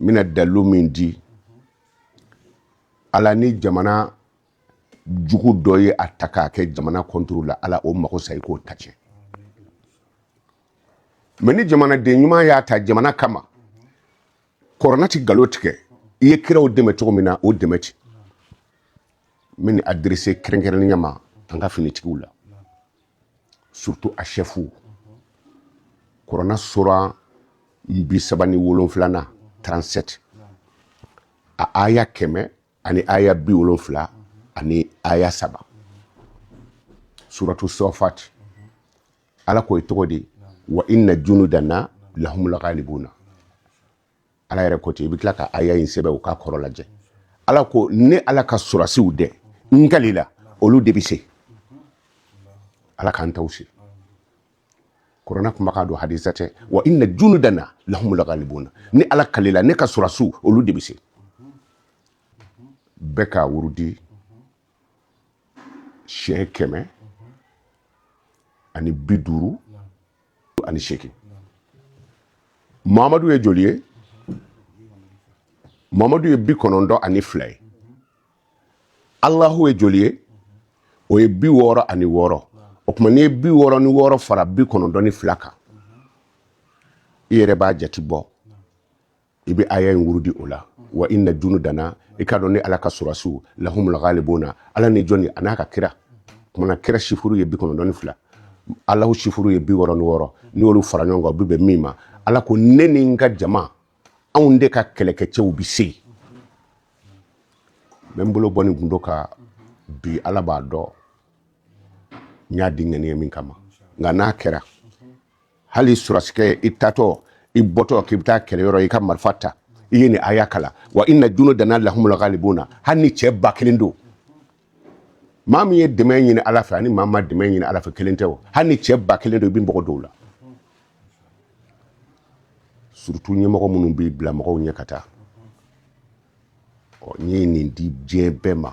n bɛna dalilu min di ala ni jamana jugu dɔ ye a ta k'a kɛ jamana kɔnturu la ala o mago sa i k'o ta tiɲɛ mɛ ni jamanaden ɲuman y'a ta jamana kama kurana tɛ galon tigɛ i ye kiraw dɛmɛ cogo min na o dɛmɛ ten n bɛ nin adirise kɛrɛnkɛrɛnnenya ma an ka finitigiw la surtout a chɛfu kurana sura bi saba ni wolonfilanan 37 a aya kɛmɛ ani aya bi wolonfila ani aya saba suratu safat ala ko i tɔgɔ di wa inna junudana lahumul ghalibuna ala yɛrɛ ko ten i bɛ tila ka aya in sɛbɛn o k'a kɔrɔ lajɛ ala ko ne ala ka sɔrɔsiw dɛ n kalila olu de bɛ se ala k'an taw se kurana kumakan don hadisi tɛ wa inna junudana lahumul ghalibuna ne ala kalila ne ka sɔrɔsiw olu de bɛ se bɛɛ k'a wurudi siɲɛ kɛmɛ ani bi duuru ani seegin mamadu ye joli ye mamadu ye bi kɔnɔntɔn ani fila ye alahu ye joli ye o ye bi wɔɔrɔ ani wɔɔrɔ o tuma n'i ye bi wɔɔrɔ ni wɔɔrɔ fara bi kɔnɔntɔn ni fila kan i yɛrɛ b'a jati bɔ i bɛ aya in wurudi o la wa inna junudana i k'a dɔn ne ala ka sɔrɔsiw lahumul ghalibuna ala ni jɔnni a n'a ka kira o tuma na kira sifuru ye bi kɔnɔntɔn ni fila ala sifuru ye bi wɔɔrɔ ni wɔɔrɔ n'i y'olu fara ɲɔgɔn kan u bɛ bɛn min ma ala ko ne ni n ka jama anw de ka kɛlɛkɛcɛw bɛ se n bɛ n bolo bɔ nin gundo kan bi ala b'a dɔn n y'a di ŋaniya min kama nka n'a kɛra hali sɔrɔsikɛ i taatɔ i bɔtɔ k'i bɛ taa kɛlɛ yɔrɔ i ka marifa ta i ye nin aya kalan wa inna junudana lahumul ghalibuna hali ni cɛ ba kelen don maa min ye dɛmɛ ɲini ala fɛ ani maa ma dɛmɛ ɲini ala fɛ kelen tɛ o hali ni cɛ ba kelen don i bɛ mɔgɔ dɔw la surtout ɲɛmɔgɔ minnu b'i bila mɔgɔw ɲɛ ka taa ɔ n ye nin di diɲɛ bɛɛ ma